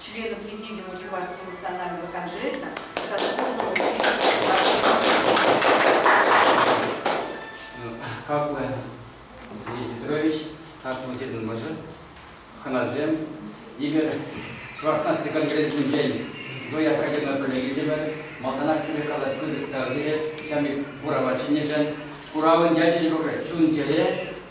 членов Президиума Чувашского национального конгресса сослуживого Хаклы Дмитрий Петрович, хаклы Сирин Мӑшӑр, хӑнасем, эпир Чӑваш наци конгрессӗнчен Зоя Прагина пӗлекетӗпӗр. Малтанах тӳрӗ калать пысӑк тав ҫамрӑк курава чӗннӗшӗн. Куравӑн ячӗ юрӑ чун-чӗре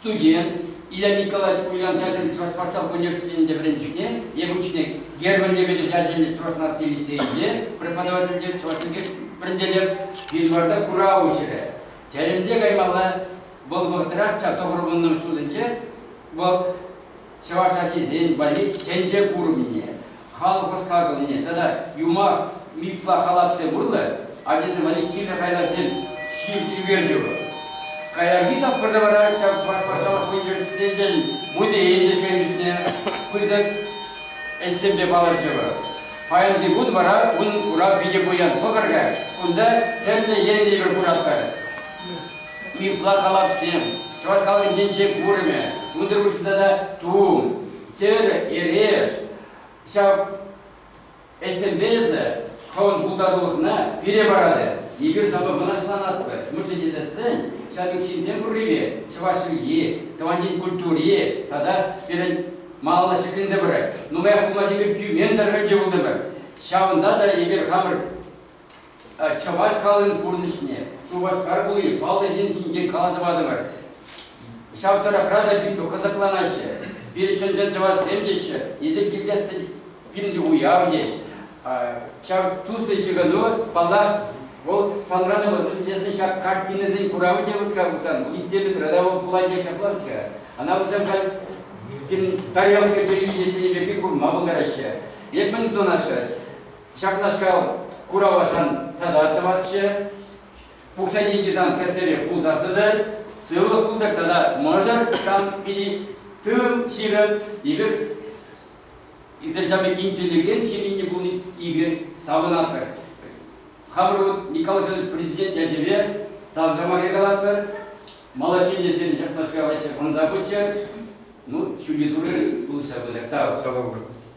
студент Илья Николаевич Ульян ячӗллӗ Чӑваш патшалӑх университетӗнче вӗренчӳне, евӗнччине Германия Вӗтӗр ячӗллӗ Чӑваш наци лицейӗнче преподавательте чӑваш чӗлхи вӗрентетӗп, январьта курав уҫрӗ. Тӗлӗнсе каймалла, вӑл вӑхӑтрах ҫав тӑхӑр вуннӑмӗш ҫулсенче вӑл чӑваш ачисен валли чӗнче курӑмне, халӑх ӑс-хакӑлне тата юмах, мифла халапсем урлӑ ачасем валли кирлӗ хайлавсем Ҫив Тивердева. Каярахи тапхӑрта вара ҫав патшалӑх университечӗн музейӗн ӗҫченӗсене пысӑк ӗҫсемпе палӑрчӗ. Паянхи кун вара ун курав питӗ пуян. Пӑхӑр-ха, кунта тӗрлӗ енлӗ кураттар. Ытла халапсем, чӑваш халӑхӗнчен курӑмӗ, тутӑр куҫ тата тум, тӗр, эреш. Ҫав ӗҫсемпе эсӗ хӑвӑн пултарулӑхна пире паратӑр. Эпир сана мӑнаҫланатпӑр. Мӗншӗн тесен ҫав пек ҫынсем пуррипе чӑваш чӗлхи, тӑван ен культури тата пирӗн малалла ҫӗкленсе пырать. Нумаях пулмасть эпир тӳмен тӑрӑхӗнче пултӑмӑр. Ҫавӑнта та эпир хамӑр Чӑваш халӑхӗн пурнӑҫне, Шупашкар хули паллӑ ҫын ҫинчен каласа патӑмӑр. Ҫав тӑрӑхра та пирӗн кӑсӑкланаҫҫӗ. Пирӗн чӑн-чӑн чӑвашсем теҫҫӗ, эсир килсессӗн пирӗн уяв теҫ. Ҫав туслӑ ҫыхӑну, паллах, вӑл санран ывӑт. Тесен ҫак картинӑсен куравӗ те вырт-ха пулсан, улиттеллӗ градовок пулать те ҫаплах-ҫке. Ӑна пулсан халь пирӗн тарелка телевиденийӗсенче пирки курма пултараҫҫӗ. Эп мӗн сунасшӑн? Ҫакнашкал куравашан тата тӑвасчӗ. Пухса деньги сан кӗсере пулса тытӑр, сывлӑх пултӑр тата мӑшӑр сан пирки тыл ҫырӑр. Эпир Израиль ҫамрӑк интеллигент ҫемйине пулни эпир савӑнатпӑр. Хамӑр вӑт Николай Федорович президент ячӗпе тавҫа мар якалатпӑр. Малаҫемьесем ҫакнашкал ӗҫе ӑнса пыччӑр. Ну, ҫӳлти турӑ пулӑшса пытӑр. Тав. Сава пур.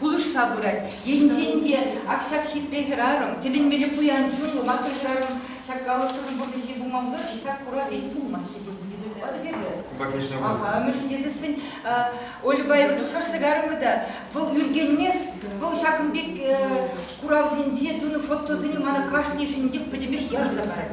Пулӑшса пырать. Енчен те ак ҫак хитре хӗрарӑм, тӗлӗнмелле пуян чунлӑ матрос хӗрарӑм ҫак калӑпсӑрӑн пурнӑҫне пулма пулать-ши, ҫак хура ӗҫ пулмасть тесе хӳтӗлетпӗр эпир. Конечно, пуль. Аха, мӗншӗн тесессӗн Ольӑпа эпир туслашса кайрӑмӑр та вӑл ӳркенмест. Вӑл ҫакӑн пек куравсенче тунӑ фотосене мана кашни ҫыннинчех пӗтӗмпех ярса парать.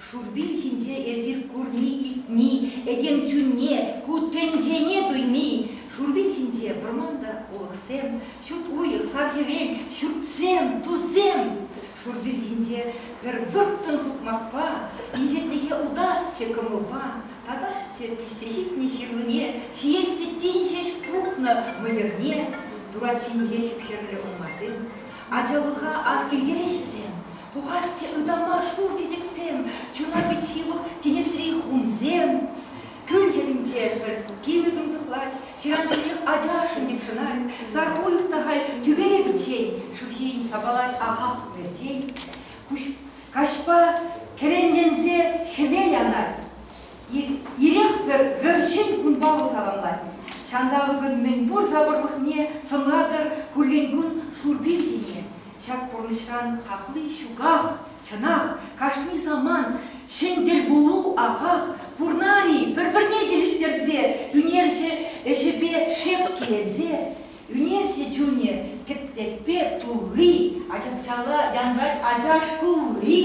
Шурпин ҫинче эсир курни-илтни, этем чунне, ку тӗнчене туйни, шурпин ҫинче вӑрман та, улӑхсем, ҫут уйӑх, сар-хӗвел, ҫуртсем, тусем. Шурпин ҫинче пӗр вӑрттӑн сукмакпа, инҫетлӗхе утасчӗ кӑмӑлпа, татасчӗ пиҫсе ҫитнӗ ҫырлине, ҫиесчӗ тин ҫеҫ пухнӑ мӑйӑрне. Турат ҫинче хӗп-хӗрлӗ урмансем ачалӑха ас килтерӗҫ вӗсем. Пухасчӗ ытама шур чечексем, чуна пит ҫывӑх тинӗсри хумсем. Кӳл хӗрринче пӗр кимӗ тунсӑхлать, ҫыран-ҫӳлех ачашӑн йӑпшӑнать, сар уйӑх та халь тӳпере пӗччен, шыв ҫийӗн сапалать ахах перчен. Каҫпа кӗренленсе хӗвел анать. Ирех-пӗр вӗр-ҫӗн кунпа вӑл саламлать. Ҫанталӑкӑн мӗнпур сапӑрлӑхне сӑнлатӑр куллен кун шур пир ҫине. Ҫак пурнӑҫран хакли ҫуках, чӑнах, кашни самант ҫӗн тӗлпулу ахах пурнар-и? Пӗр-пӗрне килӗштерсе, ӳнерҫӗ ӗҫӗпе шеп киленсе, ӳнерҫӗ чунӗ кӗтлетпе тулли, ачапчалла янрать ачаш кулли.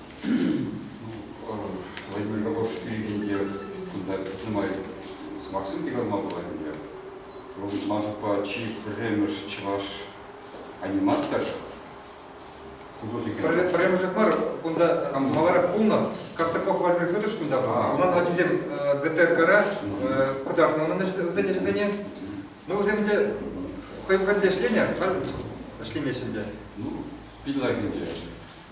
Владимир Кокош пирӗн те кунта нумай сӑмахсем те калма пулать ӗнтӗ. Вӑл Машукпа чи пӗрремӗш чӑваш аниматор художник. Пӗрремӗшех мар, кунта маларах пулнӑ. Костаков Владимир Федорович кунта пулнӑ. Унан ачисем ГТРКра кӑтартнӑ унӑн вӗсен ӗҫӗсене. Ну, вӗсем ӗнтӗ хӑй хальте ӗҫленӗ, ӗҫлемеҫҫӗ ӗнтӗ. Ну, пин лайк ӗнтӗ.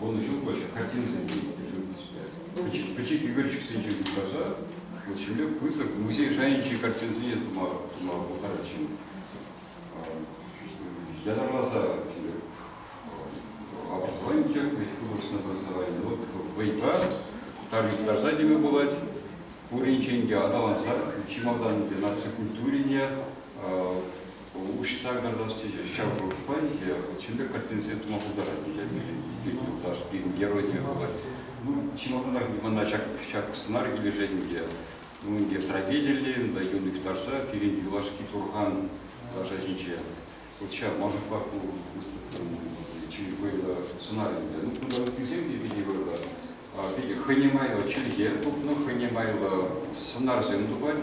вунӑҫуллӑ картинӑсемпе ӳкнӗ. Пӗчӗк, пӗчӗк ӳкерчӗксенче упраса вот ҫемле пысӑк музей шайӗнчи картинӑсене тума, тума пултарать ҫын. Ятарласа образование пӗчек, художественное образование. Вот вӑйпа тами кӑтарса теме пулать. Пуринчен те аталанса чи малтан наци культурине Уҫса карташ тесе ҫав шухӑшпа икӗ чӗлле картинсене тума пултарать пирӗн юлташ, пирӗн геройне вӑл. Ну, чӑнлӑхах мана ҫак, ҫак сӑнар килӗшет ӗнтӗ. Ну, ӗнтӗ трагедиллӗ ӗнтӗ юн юхтарса пирӗн юлашки турхан лаша ҫинче. Вот ҫав мӑшӑрпа ку выставкӑн чи вӑйлӑ сӑнар ӗнтӗ. Ну, кунта ыттисем те питӗ вӑйлӑ. Питӗ хӑйне майлӑ чӗлхе тупнӑ, хӑйне майлӑ сӑнарсем тупать.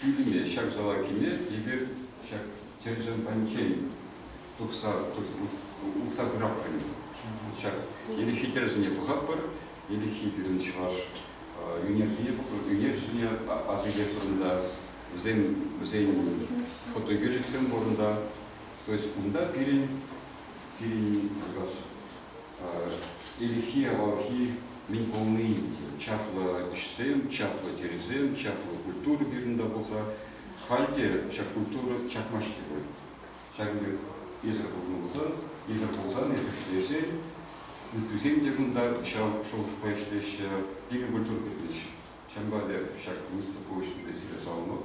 Пӳлӗме ҫак салаккине эпир ҫак тӗрӗсемпанчен тухса утса пыратпӑр. Ҫак иреххи тӗрӗсене тухатпӑр. Иреххи пирӗн чӑваш ӳнерҫине асилетпӗр та вӗсен вӗсен фотоӳкерчӗксем пурӑнта. То есть унта пирӗн пирӗн как раз Ирхи, авалхи мӗн пулни ӗнтӗ. Чаплӑ ӗҫсем, чаплӑ тӗрӗсем, чаплӑ культура вырӑнта пулса халь те ҫак культура чакмасть-и пуль? Ҫакӑн пек эсӗр пулнӑ пулсан, эсӗр пулсан, эсӗр ӗҫлесен, ыттисем те кунта ҫав шухӑшпа ӗҫлеҫҫӗ, пилӗк культура тытӑнӗҫ. Ҫавӑнпа эпӗ ҫак выставка уҫнипе сире саламлап.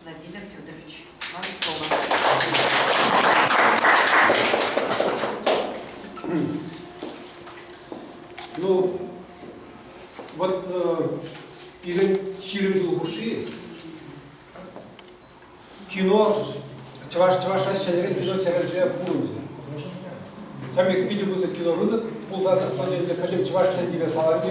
Владимир Федорович, вам слово. Ну, вот э, пирӗн ҫирӗм ҫул хушши кино чӑваш чӑвашра ҫӗнӗрен кино серверсе пурӑнчӗ. Ҫамек питӗ пысӑк кинорынок пулса тӑчӗ, пӗтӗм чӑваш тӗн тиве саларчӗ.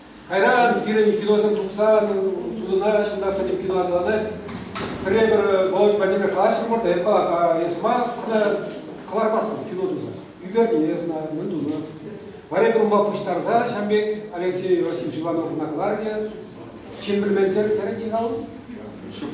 Кайран пирӗн киносем тухсан судӑна ҫынна хӑйне кино аталанать. Пӗрре-пӗр Володь Владимир калаҫрӑмӑр та эпӗ эс мар кӑлармастӑн кино туса. Ӳкерне эс мӗн тунӑ. Варя кӑмӑла пуҫтарса ҫам пек Алексей Васильевич Ивановна кӑларчӗ. Ҫын пӗлмен тӗрӗн сирал? Ҫук.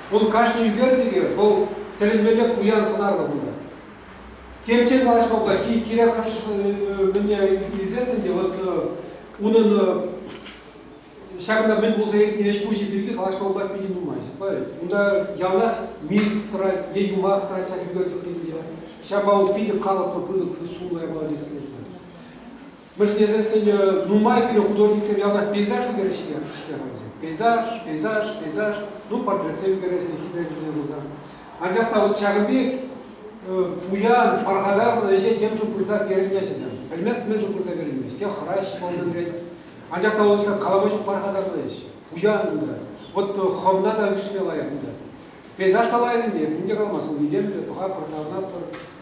Вӑл кашни ӳкерчӗке вӑл тӗлӗнмелле пуян сӑнарлӑ пулать. Темччен калаҫма пулать, кирек мӗне илсессӗн те вот унӑн ҫакӑнта мӗн пулса иртнин ӗҫ-пуҫӗ пирки калаҫма пулать питӗ нумай. Правильно? Унта явнах миф тӑрать е юмах тӑрать ҫак ӳкерчӗк хыҫӗнче. Ҫавӑнпа вӑл питӗ калӑплӑ, пысӑк сумлӑ япала теес килет. вӗҫлесен сӗнӗ нумай пире художниксем ялта пейзаж ӳкерӗҫ-ҫке хӑйсем. Пейзаж, пейзаж, пейзаж, ну портретсем ӳкерӗҫ-ҫке хитре пулсан. Анчах та вот ҫакӑн пек пуян, пархатарлӑ ӗҫе темшӗн пырса перӗн ячӗсем. Пӗлмест мӗншӗн пырса переймест. Те хӑраҫ кӑмӑл кӳрет. Анчах та вӑл калаҫу пархатарлӑ ӗҫ. Пуян унта. Вот хӑвна та ӳксме лайӑх унта. Пейзаж та лайӑх ӗнтӗ, мӗн те калмасть, ун илемлӗ, пӑха пырса ӑнатпӑр.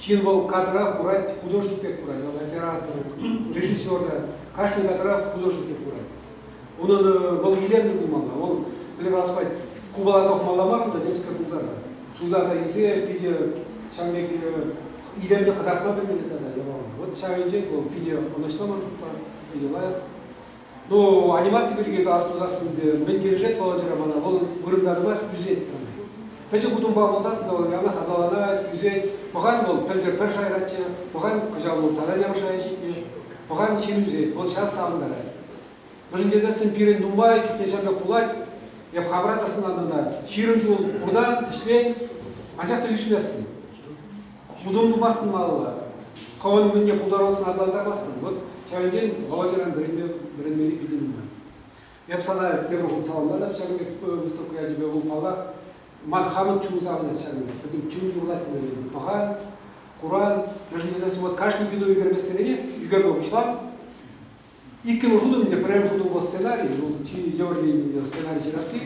Ҫын вӑл кадра курать, художник пек курать, вӑл оператор, режиссер та кашни кадра художник пек курать. Унӑн вӑл илемлӗ пулмалла, вӑл плеваспа купаласа ухмалла мар кунта темскер тултарса. Суйласа илсе питӗ ҫавӑн пек илемлӗ кӑтартма пӗлмелле тата яваплӑ. Вот ҫав енчен вӑл питӗ ӑнӑҫлӑ маршрутпа, питӗ лайӑх. Но анимаци пирки калас пулсассӑн мӗн килӗшет Володьӑра мана, вӑл вырӑнтарӑма ӳсет. Пӗчӗк утӑмпа пулсассӑн вӑл янах аталанать, ӳсет. Пӑхан вӑл пӗлтӗр пӗр шайраччӗ, пӑхан кӑҫал вӑл тата нямӑш шая ҫитнӗ. Пӑхан ҫын ӳсет, вӑл ҫав савӑнтарать. Мӗншӗн тесессӗн пирӗн нумай чухне ҫакна пулать, эп хамӑра та сӑнатӑн та, ҫирӗм ҫул пуртан, ӗҫлен, анчах та ӳсместӗн. хутӑм тупасшӑн малалла. Хӑвӑн кунне пултарулӑхна аталантармастӑн. Вот ҫавӑнтен Володьӑран вӗренме, вӗренмелли питӗ нумай. Эп сана тепӗр хут саламлатӑп ҫак пек выставка ячӗпе. Вӑл, паллах, ман хамӑн чун савӑнать ҫак пек. Пӗтӗм чун юрлать вӗренме. Пӑхан, куран. Мӗншӗн тесен вот кашни ютӑ ӳкермессеренех ӳкерме пуҫлам. Иккӗмӗш утӑм ӗнтӗ пӗрремӗш утӑм вӑл сценарий, вӑл чи евӗр енӗнче сценарий ҫырасси.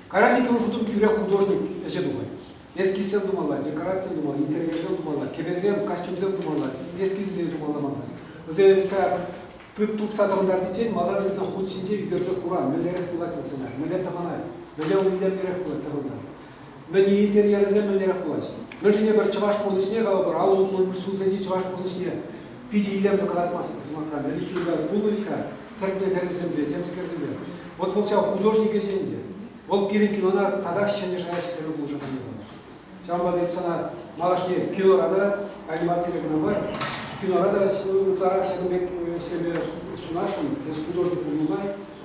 Кайран иккӗмӗш утӑм тӳрех художник ӗҫе тухать. Эскизсем тумалла, декорацисем тумалла, интерьерсем тумалла, кӗпесем, костюмсем тумалла, эскизсем тумалла манӑн. Вӗсем как тыт тупса тӑхӑнтартиччен малтан вӗсене хут ҫинче ӳкерсе хура мӗнлерех пулать вӑл сценарий, мӗнле тӑхӑнать, мӗнле умӗнтеренех пулать тӑхӑнса. Мӗн-и, интерьерӗсем мӗнлерех пулаҫ? Мӗншӗн эпӗр чӑваш пурнӑҫне, калӑпӑр, аллӑ тулӑш ҫулсенчи чӑваш пурнӑҫне питӗ илемлӗ кӑтартмастӑп сӑмахран. Ӗлӗкхи Уляй пулнӑ-и-ха тӗртме-тӗрӗсемпе, темскерсемпе? Вӑт вӑл ҫав художник ӗҫӗ ӗнтӗ. Вӑл пирӗн кинона татах ҫӗнӗ шая ҫитерме пулӑшаканни вӑл. Ҫавӑнпа та эп сана малашне кинора та, анимацире кӑна мар, кинора та ытларах ҫакӑн пек ӗҫлеме сунасшӑн, эс художник пулнӑ май.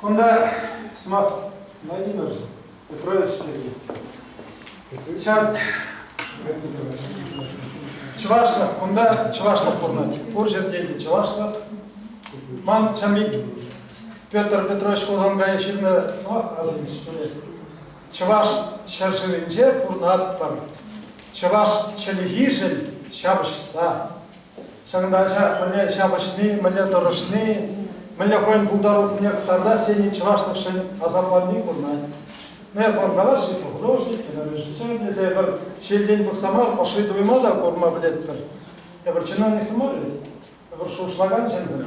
Кунта сӑмах Владимир Петрович пирки. Ҫав чӑвашлӑх, кунта чӑвашлӑх пурӑнать. Пур ҫӗрте те чӑвашлӑх. Ман ҫам пек Петр Петрович Хусанкая ҫырнӑ сӑмах асӑнчӗ, что ли. Чӑваш ҫӗршывӗнче пурӑнатпӑр. Чӑваш чӗлхишӗн ҫапӑҫса, Ҫакӑнта мӗнле ҫапӑҫни, мӗнле тӑрӑшни, мӗнле хӑйӗн пултарулӑхне кӑтартас енӗн чӑвашлӑхшӗн асапланни курӑнать. Е художник, художник, режиссер тесе эпир ҫилтен пӑхса мар, ӑшши туйма та курма пӗлетпӗр. Эпир чиновник мар, эпир шухӑшлакан ҫынсем.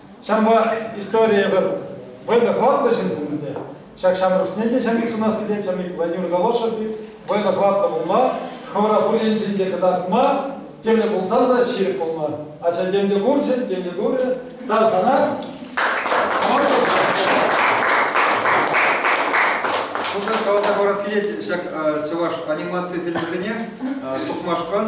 Ҫавӑнпа историе пӗр вӑйлӑ хӑватлӑ ҫынсем ӗнтӗ. Ҫак ҫамрӑксене те ҫамрӑк сунас килет ҫамрӑк Владимир Голошев пек вӑйлӑ хӑватлӑ пулма, хӑвӑра пур енчен те кӑтартма тивлӗ пулсан та ҫирӗп пулма. Ача тем те курчӗ, тем те турӗ. Тав сана. Шутлан каласа парас килет ҫак чӑваш анимаци фильмӗсене тухмашкӑн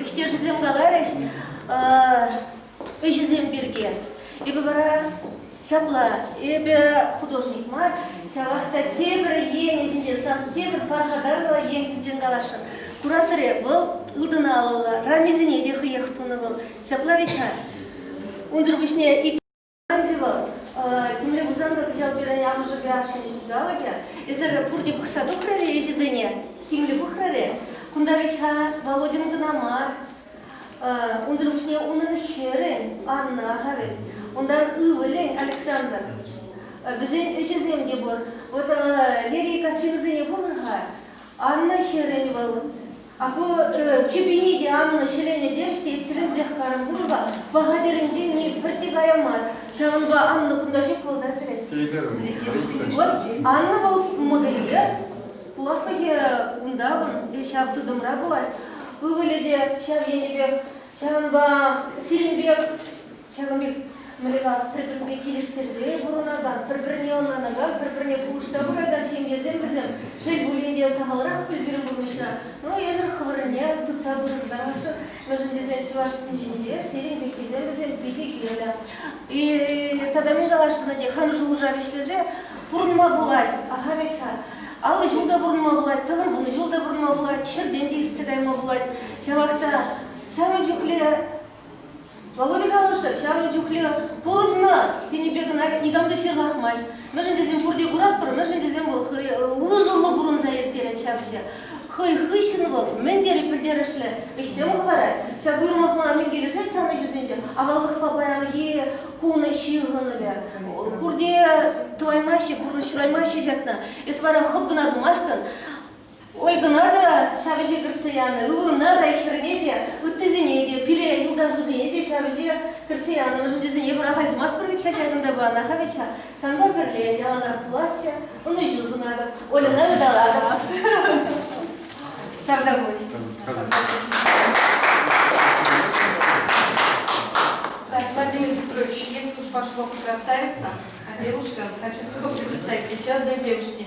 Ӗҫтешӗсем каларӗҫ ӗҫӗсем пирки. Эпӗ вара ҫапла, эпӗ художник мар, ҫавах та тепӗр енӗ ҫинчен, сан тепӗр паршатарлӑ ен ҫинчен каласшӑн. Кураторӗ вӑл ылтӑн алӑллӑ, рамисене те хӑех тунӑ вӑл. Ҫапла, Виҫа? Унсӑр пуҫне ик Ӗнтӗ вӑл темле пулсан та кӑҫал пирӗн амӑшӗпе ашшӗн ҫулталӑкӗ. Эсир пурте пӑхса тухрӑр-и ӗҫӗсене? Тимлӗ пӑхрӑр-и? Кунта вӗт-ха Володьӑн кӑна мар. Унсӑр пуҫне унӑн хӗрӗн Анна-ха вӗт, унтан ывӑлӗн Александр. Вӗсен ӗҫӗсем те пур. Вот Лерий картинӑсене курӑр-ха. Анна хӗрӗн вӑл. Акӑ, кӗпине те Анна ҫӗленӗ тех те тӗлӗнсех карӑм курнӑ-ха. Пӑха тӗрӗнчен пӗрте кая мар. Ҫавӑнпа Анна кунта ҫук вӑл та сӗрет. Вот Анна вӑл модельер. Пуласлӑхӗ унтан, ҫав тытӑмра пулать. Ывӑлӗ те ҫав енӗпех. Ҫавӑнпа сирӗн пек Ҫавӑн пек млекас пӗр-пӗрпе килӗштерсе пурӑнакан, пӗр-пӗрне ӑнланакан, пӗр-пӗрне пулӑшса пыракан ҫемьесем вӗсем, шел пулин те, сахалрах пуль пирӗн пурнӑҫра. Ну, эсӗр хӑвӑрӑнне тытса пытӑртарӑр-ши? Мӗншӗн тесен чӑвашсен ҫинче сирӗн пеккисем вӗсем питӗ кирлӗ. И тата мӗн каласшӑн те хам шухӑша вӗҫлесе пурӑнма пулать. Ахалех-ха. Аллӑ ҫул та пурӑнма пулать, тӑхӑр вунӑ ҫул та пурӑнма пулать, ҫӗртен те иртсе кайма пулать. Ҫавах та ҫавӑн чухлӗ Володя калӑршӑ ҫавӑн чухлӗ пурӑннӑ тенӗпе кӑна никам та ҫырлахмасть. Мӗншӗн тесен пурте куратпӑр, мӗншӗн тесен вӑл хӑй усӑллӑ пурӑнса ирттерет ҫав ӗҫе. Хӑй хыҫҫӑн вӑл мӗн тери пӗлтерӗшлӗ ӗҫсем хӑварать. Ҫак уйрӑмлӑхма мӗн килӗшет сан ӗҫӳсенче? Аваллӑхпа паянхи кун ҫыхӑнӑвӗ. Пурте тӑваймаҫҫӗ, пурнӑҫ шыраймаҫҫӗ ҫакна. Эс вара хӑп кӑна тумастӑн. Ольгӑна та ҫав ӗҫе кӗртсе янӑ, ывӑлна та, хӗрне те, ыттисене те, пире, юлташусене те ҫав ӗҫе кӗртсе янӑ. Мӗншӗн тесен эпир ахаль тумастпӑр вӗт-ха ҫакӑнта панах вӗт-ха. Санпа пӗрле яланах пуласчӗ, ӑнӑҫу сунатӑп, Ольӑна ыталатӑп. Тавра пуҫ. Так, Владимир Петрович, если уж пошло красавица, Андрюшка, хочу с тобой представить еще одной девушке.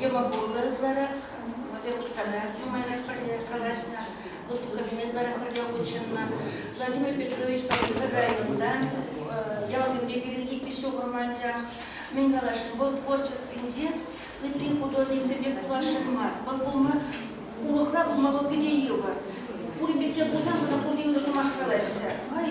йӑмӑ пулса ытларах вӗсем калаҫ нумайрах пӗрле калаҫнӑ выставкӑсене ытларах пӗрле хутшӑннӑ. Владимир Петровичпа эпир районта ялсемпе пирӗн икӗ ҫухрӑм анчах мӗн каласшӑн вӑл творчествинче ытти художниксемпе пуласшӑн мар вӑл пулма урӑхла пулма вӑл питӗ йывӑр пурин пекке пулсан вара пурте ырӑ сӑмах калаҫҫӗ май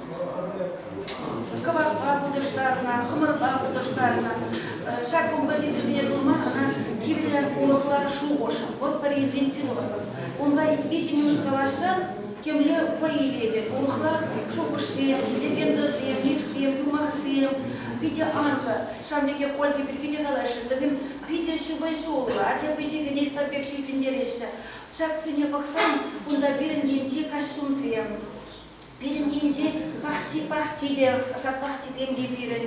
кӑварпа хутӑштарнӑ, хӑмӑрпа хутӑштарнӑ. Ҫак кунпа ҫынсемпе пулма ӑна кирлӗ урӑхла шухӑш. Вӑл пӗр енчен философ. Унпа виҫӗ минут калаҫсан темле вӑй илетӗп. Урӑхла шухӑшсем, легендӑсем, мифсем, юмахсем питӗ анлӑ. Ҫавӑн пекех Ольга пирки те калаҫрӑм. Вӗсем питӗ ҫыпӑҫуллӑ, ача пиччесене пӗр пек ҫилкӗнтереҫҫӗ. Ҫаксене пӑхсан кунта пирӗн енчи костюмсем, Пирӗн енчен пахчи-пахчи те, сад пахчисем те пирӗн.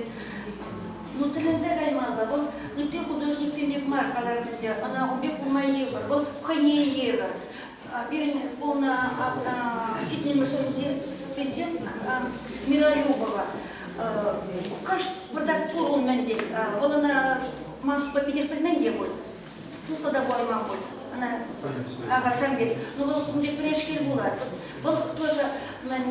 Ну, тӗлӗнсе каймалла. Вӑл ытти художниксем пек мар каларӗ пӗлсе. Ӑна ун пек курма йывӑр. Вӑл хӑйне йывӑр. Пирӗн полна ҫитменмӗшӗнче тӗнче Миролюбова. Кӑшт выртать пур ун мӗн пек. Вӑл ӑна, ман шутпа, питех пӗлмен те пуль. туслӑ та пулайман пуль ӑна ахальсем пек. Ну вӑл ун пек пӗрешкел пулать. Вӑл тоже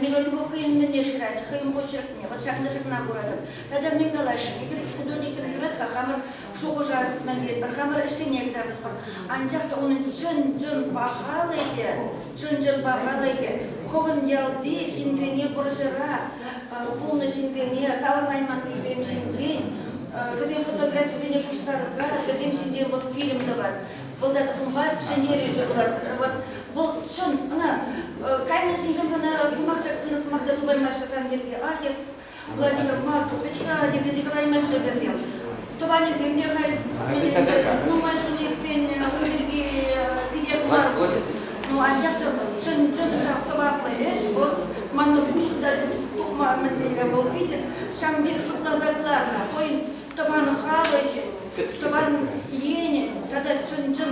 миролюбов хӑйӗн мӗнне шырать, хӑйӗн почеркне. Вот ҫакна ҫакна куратӑп. Тата мӗн калаҫҫӗ? Эпир дурниксем юрать-ха, хамӑр шухӑша мӗнлетпӗр, хамӑр ӗҫсене кӑтартатпӑр. Анчах та унӑн чӑн-чӑн пахалӑхӗ, чӑн-чӑн пахалӑхӗ хӑвӑн ялти ҫынсене вӑрҫӑрах пулнӑ ҫынсене таврӑнайманнисем ҫинчен вӗсен фотографисене пуҫтарса вӗсем ҫинчен вӑл фильм тӑвать. Вӑл ят унпа ҫӗнтерӳҫӗ пулать. Вот вӑл чӑн ӑна кайнӑ ҫынсем ӑна сӑмах та ырӑ сӑмах та тупаймаҫҫӗ сан пирки. Ах, эс Владимир мар, тупӗт-ха тесе те калаймаҫҫӗ вӗсем. Тӑванӗсемне халь нумай ҫул иртсен ун пирки пире кӑларман. Ну, анчах та чӑн чӑн сӑваплӑ ӗҫ вӑл. Манӑн пуҫу та тухма мӗнле вӑл питӗ ҫам пек шутласа кӑларнӑ хӑйӗн тӑван халӑхӗн, тӑван енӗн тата чӑн-чӑн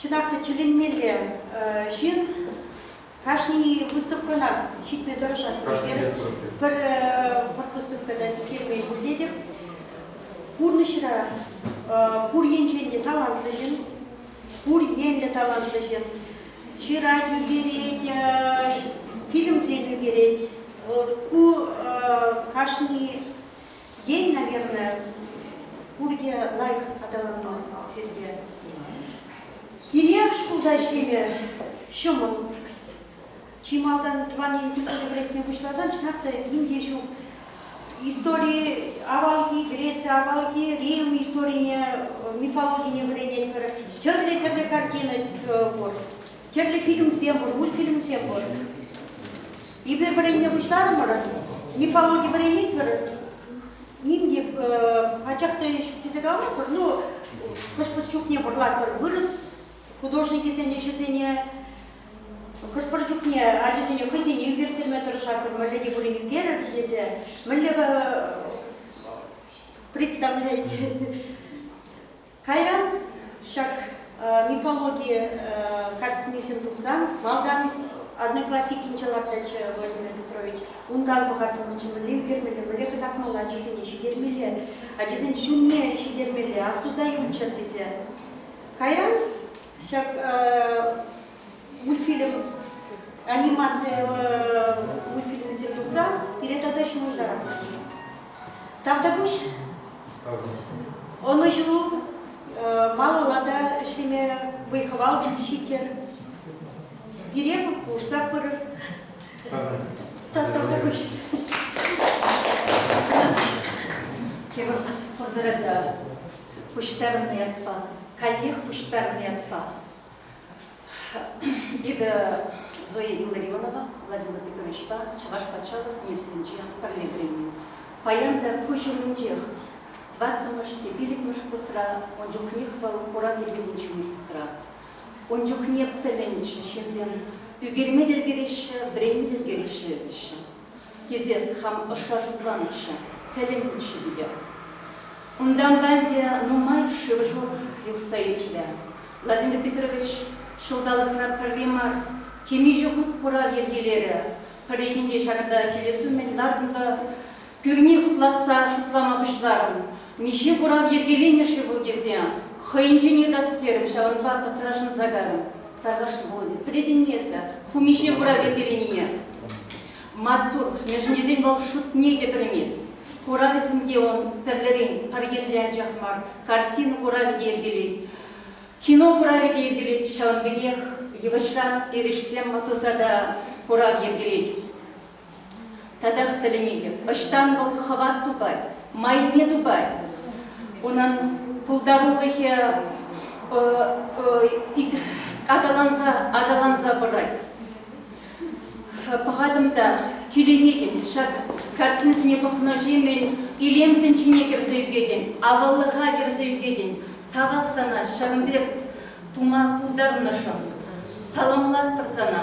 Чӑнах та тӳленмелле ҫын кашни выставкӑна ҫитме тӑрӑшать. Пӗр выставка та сиктермен пултетӗп. Пурнӑҫра пур енчен те талантлӑ ҫын, пур енлӗ талантлӑ ҫын ҫырать, ӳкерет, фильмсем ӳкерет. Ку кашни Ен, наверное, пурте лайӑх аталанман сирте. Кирек шкулта ӗҫлеме ҫӑмӑл. Чи малтан тӑван ен тӗпне вӗрентме пуҫласан чӑнах та ним те ҫук. Истори авалхи, Греция авалхи Рим историне, мифологине вӗренетпӗр. Тӗрлӗ-тӗрлӗ картина пур. Тӗрлӗ фильмсем пур, мультфильмсем пур. Эпир вӗренме пуҫларӑмӑр. Мифологи вӗренетпӗр. Ним те пачах та ҫук тесе каламастпӑр. Ну, хӑш-пӗр чухне вӑрлатпӑр вырӑс художникӗсен ӗҫӗсене, хӑш-пӗр чухне ачасене хӑйсене ӳкерттерме тӑрӑшатпӑр, мӗнле те пулин ӳкерӗр тесе, мӗнле представлять Кайран ҫак мифологи картинисем тухсан малтан Одноклассникӗнче лартнӑччӗ Владимир Петрович. Унтан пӑхаттӑмӑрччӗ мӗнле ӳкермелле, мӗнле кӑтартмалла ачасене ҫитермелле, ачасен ҫумне ҫитермелле, астуса юлччӑр тесе. Кайран ҫак мультфильм, анимаци мультфильмӗсем тухса пире тата ҫывӑртарать. Тавтапуҫ. Ӑнӑҫу малалла та ӗҫлеме вӑй-хӑвал ҫитер. Пире пулӑшса пырӑр. Тавтапуҫ. Киров пӑрсӑрата пуҫтарнӑ ятпа, каллех пуҫтарнӑ ятпа Эпӗ Зоя Илларионова Владимир Петровичпа Чӑваш патшалӑх университетӗнче пӗрле вӗреннӗ. Паян та куҫ умӗнчех. Тӑваттӑмӗш те пиллӗкмӗш курсра ун чухнех вӑл курав йӗркеленӗ университетра. Ун чухне пӗлӗнчӗ, ҫынсем ӳкерме те ӗлкӗреҫҫӗ, вӗренме те ӗлкӗреҫҫӗ, теҫҫӗ. тесе хам ӑшша шутланаҫҫӗ, тӗлӗннӗччӗ питӗ. Унтанпа ӗнтӗ нумай шыв-шур юхса иртрӗ. Владимир Петрович ҫулталӑкра пӗрре мар темиҫе хут курав йӗркелерӗ, пӗррехинче ҫакӑнта килес умӗн лартнӑ пӳрне хуплатса шутлама пуҫларӑм, Миҫе курав йӗркеленӗ-ши вӑл тесе хӑйӗнчен ыйтас терӗм, ҫавӑнпа пӑтрашӑнса карӑм. Тархасшӑ Володя, пӗлетӗн-и эсӗ, ку миҫе курав йӗркеленине? Маттур, мешӗнесен вӑл шутне те пӗлмест. Куравӗсем те ун тӗрлӗрен, пӗр енлӗ анчах мар, картина куравӗ те йӗркелет, кино куравӗ те йӗркелет, ҫавӑн пекех йывӑҫран эрешсем туса та курав йӗркелет. Татах тӗлӗнетӗп. Ӑҫтан вӑл хӑват тупать, майне тупать? Унӑн пултарулӑхӗ аталанса аталанса пырать. Пӑхатӑм та киленетӗн. Ҫак картинӑсене пӑхнӑҫемӗн илем тӗнчине кӗрсе ӳкетӗн, аваллӑха кӗрсе ӳкетӗн. Тавах сана ҫавӑн пек тума пултарнӑшӑн. Саламлатпӑр сана.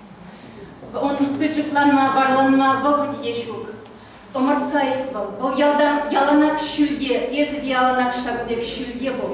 Ун пӗчӗкланма, варланма вӑхӑт те ҫук. Ӑмӑрткай вӑл, вӑл ялтан яланах ҫӳлте, эсӗ те яланах ҫак пек ҫӳлте пул.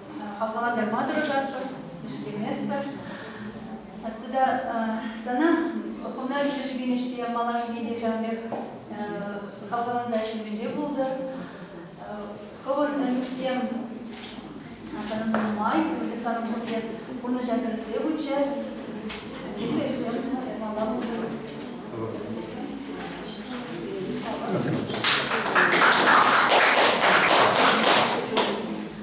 хавхалантарма тӑрӑшатпӑр, ӗҫлеместпӗр. Атте та сана хунда ӗҫлешекенӗшпе малашне те ҫав пек хавхаланса ӗҫлемелле пултӑр. Хӑвӑн ӗмӗтсем санӑн нумай, вӗсем санӑн пурте пурнӑҫа кӗрсе пыччӗр. Тепӗр ӗҫсем япала пултӑр.